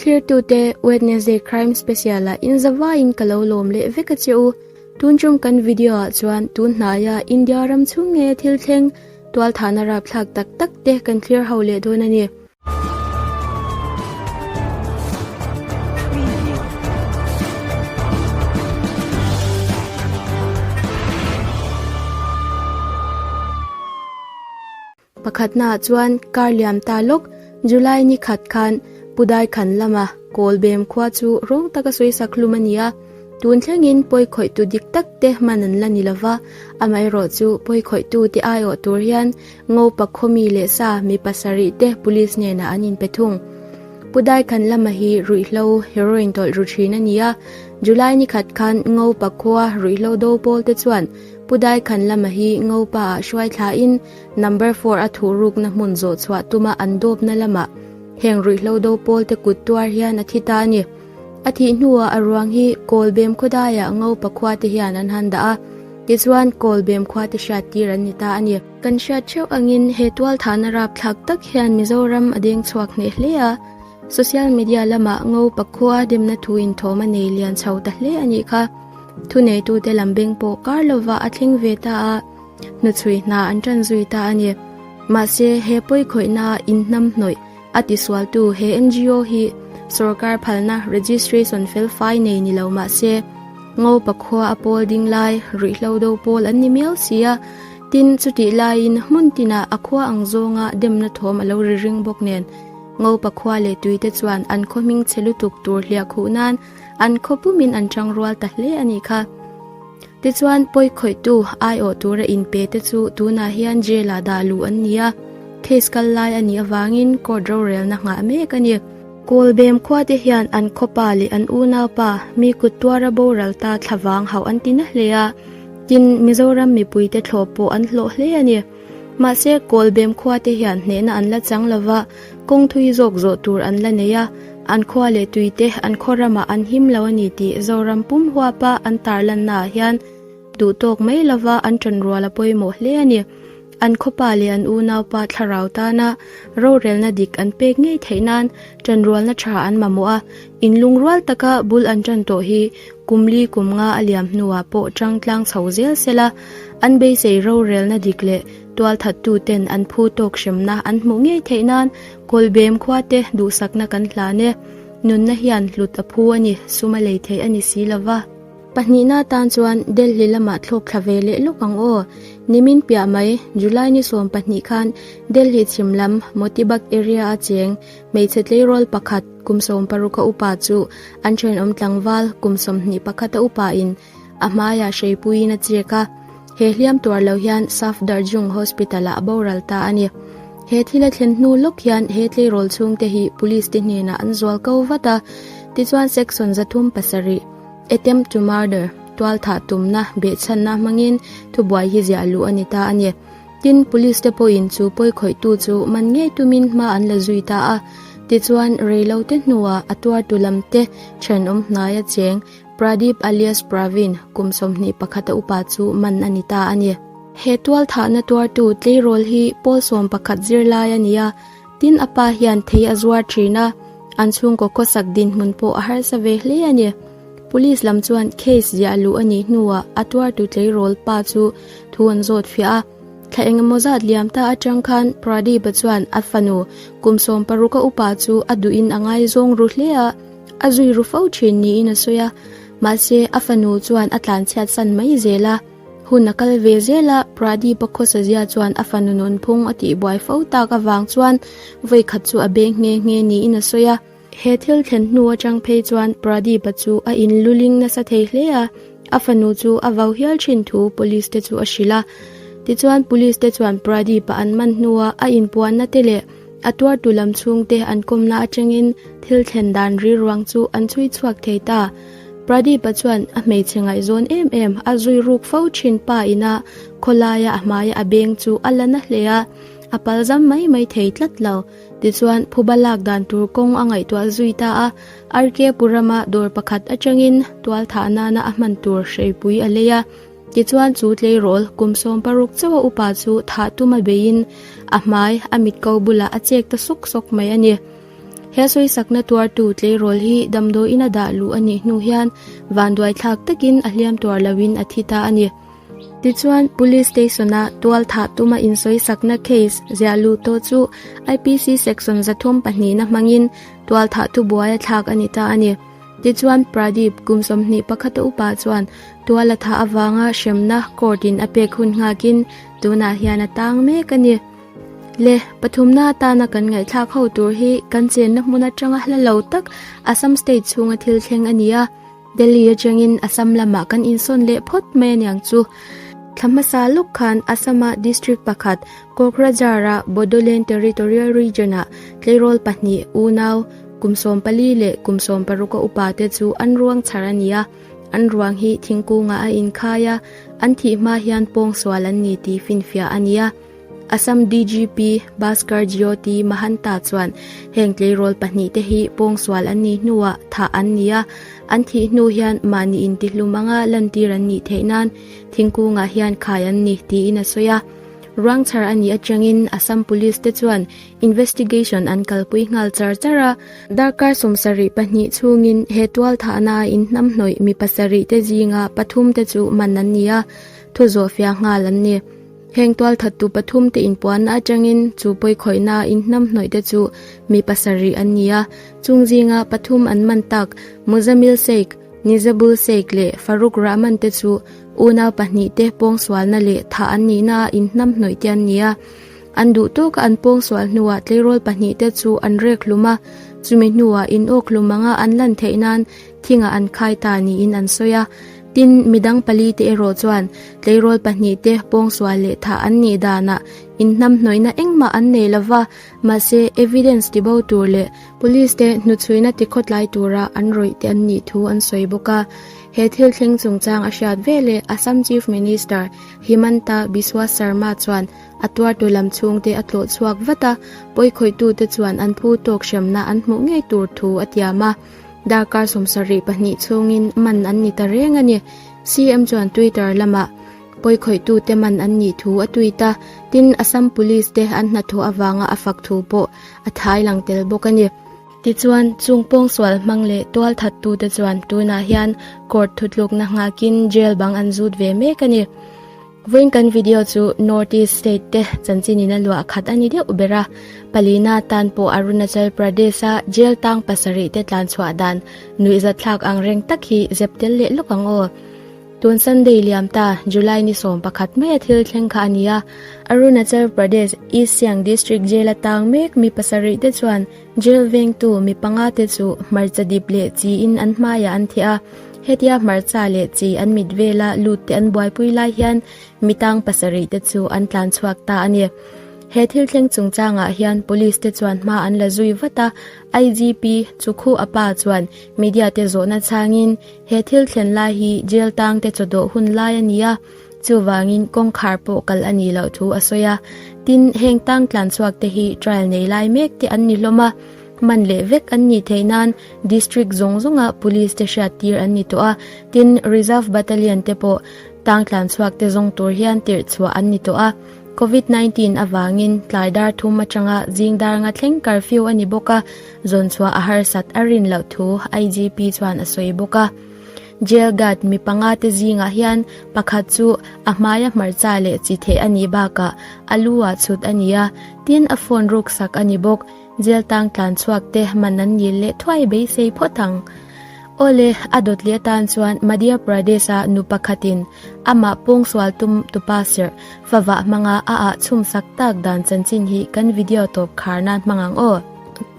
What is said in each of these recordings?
Thlertute Wednesday Crime Special a in zavaiin ka lo lawm leh vek a che u. Tun ṭawng kan video ah chuan tun hnaia India ram chhung nge thil thleng tualthahna rapthlak tak tak te kan thlir ho leh dawn a ni. Pakhatna ah chuan kar liam ta lawk July ni khat khan Pudai khan lama Kawlbem khua chu rawng taka suisa khlum a ni a, tun thlengin pawi khawihtu dik tak te man an la ni lo va, amaherawh chu pawi khawihtu te aiawh tur hian Ngopa khawmi leh sa mi pasarih te Police hnenah an inpe thung. Pudai khan lama hi ruihhlo heroin tawlh ru thin a ni a, July ni khat khan Ngopa khua ruihhlo do pawl te chuan Pudai khan lama hi Ngopa ah hruaithla in, Number four a thu rukna hmun zawh chhuah tuma an dawpna lamah heng ruihhlo do pawlte kut tuar hian a thi ta a ni. A thih hnuah a ruang hi kawl bem khawdaiah ngo pakhua te hian an han dah a, tichuan kawl bem khua te hriat tir an ni ta a ni. Kan hriat theuh angin he tualthahna rapthlak tak hian Mizoram a deng chhuak hneh hle a, social media lamah ngo pakhua demna thu inthawm a nei lian chho ta hle a nih kha. Thuneitute lam beng pawh kar lova a thleng ve ta a, Hnuchhui hna an tan zui ta a ni. Mahse, he pawikhawihna inhnam hnawih a tisualtu he NGO hi sorkar phalna registration felfai nei ni lo mahse, Ngopa khua a pawl ding lai ruihhlo do pawl an ni miau si a. Tin, chutih laiin hmun tinah a khua ang zawnga demna thawm a lo ri ring bawk nen, Ngopa khua leh tuite chuan an khawhming che lutuk tur hliah khuh nan an khaw pumin an ṭang rual ta hle a ni kha. Te chuan pawi khawihtu aiawh tur a inpe te chu tunah hian jail-ah dah luh an ni a, case kal lai a nih avangin court rorelna nghah mek a ni. Kawlbem khua te hian an khawpa leh an unaupa mi kut tuara boral ta thlavang hauh an ti na hle a, tin Mizoram mipui te thlawp pawh an hlawh hle a ni. Mahse, Kawl bem khua te hian hnehna an la chang lo va, kawng thui zawk zawh tur an la nei a, an khua leh tui te an khaw ramah an him lo a ni tih Zoram pum huapa an tarlannaah hian duhtawk mai lova an ṭawn rual a pawimawh hle a ni. An khawpa leh an unaupa thlarau tana rorelna dik an pek ngei theih nan ṭan rualna ṭha an mamawh a, in lung rual taka bul an ṭan tawh hi kum li kum nga a liam hnuah pawh ṭangtlang chho zel sela, An beisei rorelna dik leh tualthattuten an phu tawk hremna an hmuh ngei theih nan Kawlbem khuate duhsakna kan hlan e. Nunna hian hlut a phu a ni, sum a lei theih a ni si lo va. Pahnihna atan chuan Delhi lamah thlawk thla ve leh lawk ang aw. Nimin piah mai, July ni sawm pahnih khan Delhi chhim lam Motibagh area a cheng hmeichhe tleirawl pakhat kum sawm paruk a upa chu an thenawm tlangval kum sawmhnih pakhat a upa in A hmaiah Hreipuiin a chek a, He hliam tuar lo hian Safdarjung Hospital-ah a boral ta a ni. He thil a thlen hnu lawk hian he tleirawl chhungte hi Police te hnenah an zual ko vat a, tichuan Section za thum pasarih, Attempt to Murder, tualthah tumna, behchhanna hmangin thubuai hi ziah luh a ni ta a ni. Tin, Police te pawhin chu pawi khawihtu chu man ngei tumin hma an la zui ta a, tichuan rei lo te hnuah a tuartu lam te thenawm hnaia cheng Pradeep alias Praveen, kum sawmhnih pakhat a upa chu man a ni ta a ni. He tualthahna tuartu tleirawl hi pawl sawm pakhat zirlai a ni a, tin a pa hian thei a zuar thin a, an chhungkaw khawsak dinhmun pawh a harsa ve hle a ni. Police lam chuan case ziah a luh a nih hnuah a tuartu tleirawl pa chu thu an zawt fiah a. Thla eng emaw zat liam ta atang khan Pradeep-a chuan a fanu, kum sawm paruk a upa chu a duhin a ngaizawng ru hle a. A zui ru fo thin niin a sawi a, mahse a fanu chuan a tlanchhiat san mai zel a, hun a kal ve zel a, Pradeep-a khawsazia chuan a fanu nunphung a tihbuai fo tak avang chuan vawikhat chu a beng nghe nghe niin a sawi a. He thil thlen hnu atang phei chuan Pradeep-a chu a in lu ling nasa thei hle a, a fanu chu a vau hial thin thu Police-te chu a hrilh a. Tichuan Police-te chuan Pradeep-a an man hnua a inpuanna te leh A tuartu lam chhungte an kawmna atangin thil thlen dan ri ruang chu an chhui chhuak thei ta. Pradeep-a chuan a hmeichhe ngaihzawn em em. A zui ruk fo thin pa ina khawlaia a hmaia a beng chu a la na hle a, a pal zam mai mai thei tlat lo. Tichuan, phuba lak dan tur kawng a ngaihtuah zui ta a. RKpuram-a dawr pakhat atangin tual thah nana a hman tur hreipui a lei a. Tichuan chu tleirawl kum sawm paruk chauha upa chu thah tuma beiin a hmai a mitko bulah a chek ta sawk sawk mai a ni. He sawisakna tuartu tleirawl hi damdawiin a dah luh a nih hnu hian vanduai thlak takin a hliam tuar loin a thi ta a ni. Tichuan Police Station-a tual thah tuma insawisakna case ziah luh tawh chu IPC Section za thum pahnihna hmangin tual thah tu buaia thlak a ni ta a ni. Tichuan, Pradeep, kum sawmhnih pakhata upa chuan tual a thah avanga hremna court in a pek hun nghak in tunah hian a tang mek a ni. Le, pathumna atana kan ngaihthlak ho tur hi kan chenna hmun atanga hla lo tak Assam state chhunga thil thleng a ni a, Delhi atangin Assam lamah kan insawn leh phawt mai aniang chu. Thla hmasa lawk khan Assam-a district pakhat, Kokrajhar-a Bodoland Territorial Region-a tleirawl pahnih, unau, Kum sawm pali leh kum sawm paruka upa te chu an ruang chhar a ni a, an ruang hi thingkungah a inkhai a, an thih hma hian pawngsual an ni tih finfiah a ni a. Assam DGP Bhaskar Jyoti Mahanta chuan heng tleirawl pahnih te hi pawngsual an nih hnuah thah an ni a, an thih hnu hian mahni intihlum anga lantir an nih theih nan thingkungah hian khai an ni tiin a sawi a. Ruang chhar a nih atangin Assam Police te chuan investigation an kalpui nghal char char a, darkar sawmsarih pahnih chhungin he tualthahna a inhnam hnawih mi pasarih te zinga pathum te chu man an ni a, thu zawh fiah nghal an ni. Heng tualthattu pathum te inpuanna atangin chu pawikhawihna a inhnam hnawih te chu mi pasarih an ni a, chung zinga pathum an man tak Muzamil Sheikh, Nizabul Sheikh leh Farooq Rahman te chu unau pahnih te pawngsualna leh thah an nihna a inhnam hnawih te an ni a. An duh tawka an pawngsual hnuah tleirawl pahnih te chu an rek hlum a, chumi hnuah in awk hlum anga an lan theih nan thingah an khai ta niin an sawi a. Tin, midang pali te erawh chuan tleirawl pahnih te pawngsual leh thah an nih danah inhnamhnawihna engmah an nei lo va, mahse evidence ti bo tur leh, police te hnuchhuina ti khawtlai tura an rawih teh an nih thu an sawi bawk a. He thil thleng chungchang a hriat vel e, Assam Chief Minister Himanta Biswa Sarma chuan, A tuartu lam chhungte a tlawh chhuak vat a, pawikhawitute chuan an phu tawk hremna an hmuh ngei tur thu a tiam a. Darkar sawmsar rih pahnih chhungin man an ni ta reng a ni. CM chuan Twitter lamah pawikhawitute man an nih thu a tweet a, tin Assam Police te an hnathawh avanga a fak thu pawh a thlai lang tel bawk a ni. Tichuan, chung pawngsual hmang leh tual thattute chuan tunah hian court thutlukna nghakin jail bang an zut ve mek a ni. Vawiin kan video chu North East State te chanchin in a luah a khat a ni deuh ber a, palina atan pawh Arunachal Pradesh a jail tang pasarih te tlan chhuah dan nuih zat thlak ang reng tak hi zep tel leh lawk ang aw. Tun Sunday liam ta July ni sawm pakhat mai a thil thleng kha a ni a, Arunachal Pradesh East Siang District Jail atang mek mi pasarih te chuan, Jail vengtu mi panga te chu hmarcha dip leh chi in an hmai ah an theh a, hetia hmarcha leh chi an mit vel a lut te an buai pui lai hian mi tang pasarih te chu an tlan chhuak ta a ni. He thil thleng chung chang ah hian police te chuan hma an la zui vat a, IGP Chukhu a pa chuan media te zawh na chang in he thil thlen lai hi jail tang te chawdawh hun lai a ni a, Chuvangin kawngkhar pawh kal a nih loh thu a sawi a. Tin, heng tang tlan chhuak te hi trial nei lai mek te an ni hlawm a, man leh vek an nih theih nan District zawng zawnga Police te hriat tir an ni tawh a, tin, Reserve Battalion te pawh tang tlan chhuak te zawng tur hian tirhchhuah an ni tawh a. Covid nineteen avangin tlai dar thum atanga zing darnga thleng curfew a ni bawk a, zawnchhuah a harsat a rin loh thu IGP chuan a sawi bawk a. Jail guard mi panga te zingah hian pakhat chu a hmai a hmarcha leh chi theh a nih bakah a lu ah chhut a ni a, tin a phone ruk sak a ni bawk. Jail tang tlan chhuak te man an nil leh thuai beisei phawt ang. Awle, a dawtli atan chuan Madhya Pradesh a nu pakhat in amah pawngsual tum tupa serh favah hmanga a ah chhum sak tak dan chanchin hi kan video tawp khar nan hmang ang aw.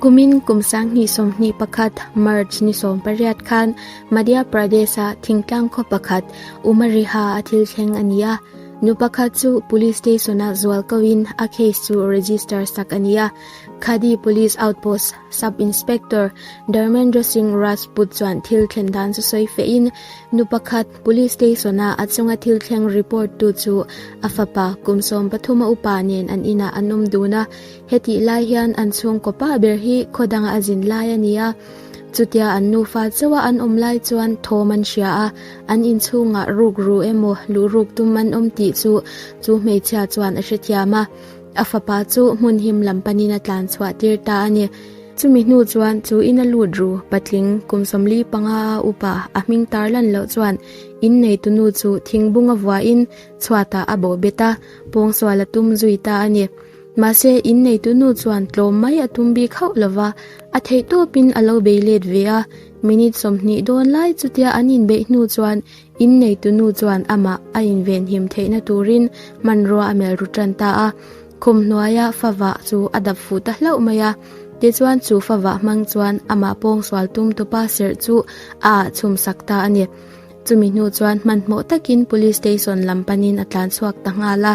Kumin kum sang hnih sawm hnih pakhat, March ni sawm pariat, khan, Madhya Pradesh-a thingtlang khaw pakhat Uma Riha a thil thleng a ni a, nu pakhat chu police station-ah zual kohin a case chu register sak a ni a. Khadi Police Outpost Sub Inspector Dharmendra Singh Rajput chuan thil thlen dan chu sawi fehin nu pakhat police station-a a chunga thil thleng report tu chu a fapa kum sawm pathum a upa nen an inah an awm dun a. Hetih lai hian an chhungkaw pah ber hi khaw danga a zin lai a ni a. Chutia an nufa chauha an awm lai chuan thawm an hria a, an inchhungah ruk ru emaw luh ruk tum an awm tih chu chu hmeichhia chuan a hrethiam a, a fapa chu hmun him lam panin a tlan chhuah tir ta a ni. Chumi hnu chuan chu ina lut ru patling kum sawmli panga a upa a hming tarlan loh chuan in neitu nu chu thingbunga vuain chhuatah a bawhbet a, pawngsual a tum zui ta a ni. Mahse, in neitunu chuan tlawm mai a tum bik hauh lo va, a theih tawpin a lo bei let ve a. Minute sawmhnih dawn lai chutia an inbeih hnu chuan in neitunu chuan amah a invenhim theihna turin hmanrua a melru tan ta a. Khum hnuaia fava chu a dap fuh ta hlauh mai a. Tichuan chu fava hmang chuan amah pawngsual tum tawpa serh chu a ah chhum sak ta a ni. Chumi hnu chuan hmanhmawh takin Police station lam panin a tlanchhuak ta nghal a.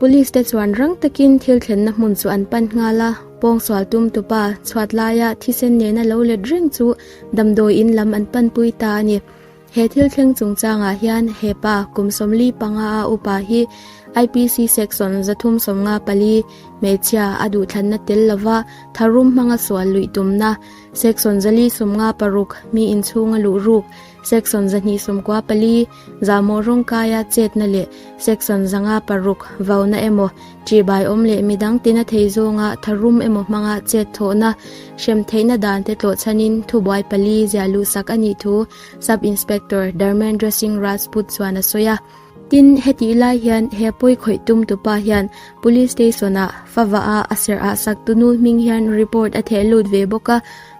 Police te chuan rang takin thil thlenna hmun chu an pan nghal a, pawngsual tum tupa chhuat laia thisen nena lo let reng chu damdawi in lam an panpui ta a ni. He thil thleng chungchangah hian hepa kum sawmli panga a upa hi IPC section zathum sawmnga pali hmeichhia a duhthlanna tel lova tharum hmanga sual luih tumna, section zali sawmnga paruk mi inchhunga luh ruk, section zahnih sawmkua pali, Zahmawh rawng kaia chetna leh section zanga paruk, vauna emaw ṭih baiawm leh mi dangtin a thei zawnga tharum emaw hmanga chet thawhna hrem theihna dante tlawh chhanin thubuai pali ziah luhsak a nih thu Sub Inspector Dharmendra Singh Rajput chuan a sawi a. Tin, hetih lai hian he pawi khawih tumtu pa hian Police Station-ah favah a a serh ah saktunu hming hian report a theh lut ve bawk a,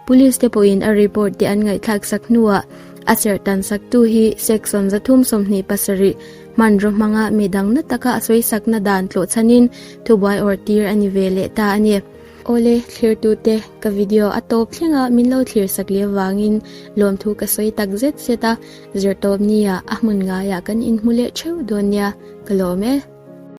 Police te pawhin a report te an ngaihthlak sak hnuah a serhtan saktu hi Section zathum sawmhnih pasarih hmanraw hmanga mi dang na taka sawisakna dan tlawh chhanin thubuai awrh tir a ni ve leh ta a ni. Awle, thlirtute, ka video a tawp thleng a min lo thlir sak leh avangin lawmthu ka sawi tak zet zet a, Zirtawpnia a hmun ngaiah kan inhmu leh theuh dawn nia ka lawm e.